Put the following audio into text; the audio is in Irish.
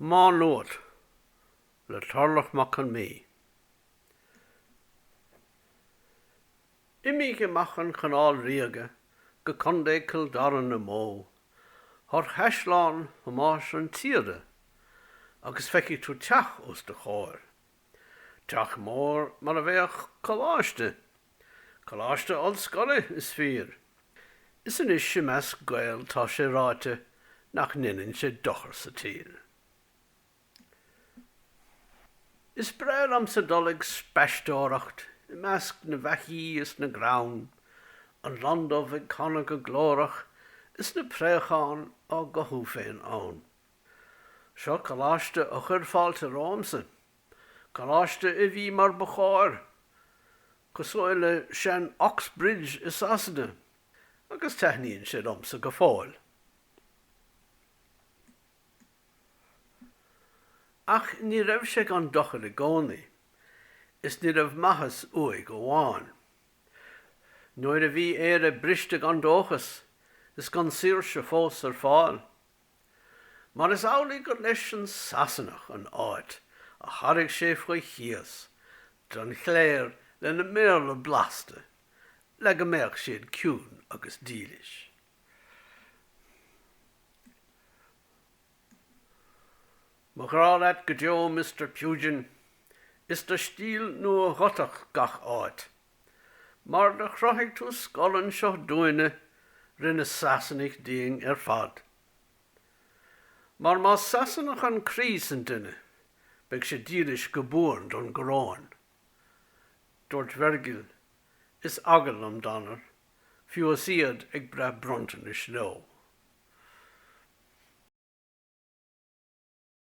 Má Nuat le Tarlach Mac Con Midhe. Imigh amach an Chanáil Ríoga go Co. Chill Dara na mbó thar Chaisleán Thomáis an tSíoda agus feicfidh tú teach os do chomhair, teach mór mar a bheadh coláiste. Coláiste Ollscoile, is fíor. Is anois i measc Gael tá sé ráite nach ndeineann sé dochar sa tír. Is breá liomsa dul ag spaisteoireacht i measc na bhfeithí is na gcrann, an londubh ag canadh go glórach is na préacháin á gcothú féin ann. Seo coláiste a chuir fáilte romhamsa. Coláiste a bhí mar ba chóir, cosúil le sean Oxbridge i Sasana, agus taithníonn sé liomsa go fóill. Ach ní raibh sé gan dochar i gcónaí, is ní raibh maitheas uaidh amháin. Nuair a bhí Éire briste gan dóchas, is gan saoirse fós ar fáil, mar is amhlaidh gur leis an Sasanach an áit a thairg sé faoi chíos don chléir lena mBéarla blasta le go mbeadh siad ciúin agus dílis. Mo ghrá leat go deo Mister Pugin, is do stíl nua Ghotach gach áit. Mar do chruthaigh tú scoil anseo dúinne, rinne Sasanaigh dínn ar fad. Mar más Sasanach an croí san duine, beidh sé dílis go buan don gcoróin. Dúirt Virgil, Is eagal liom Danar, fiú is iad ag breith bronntanais leo.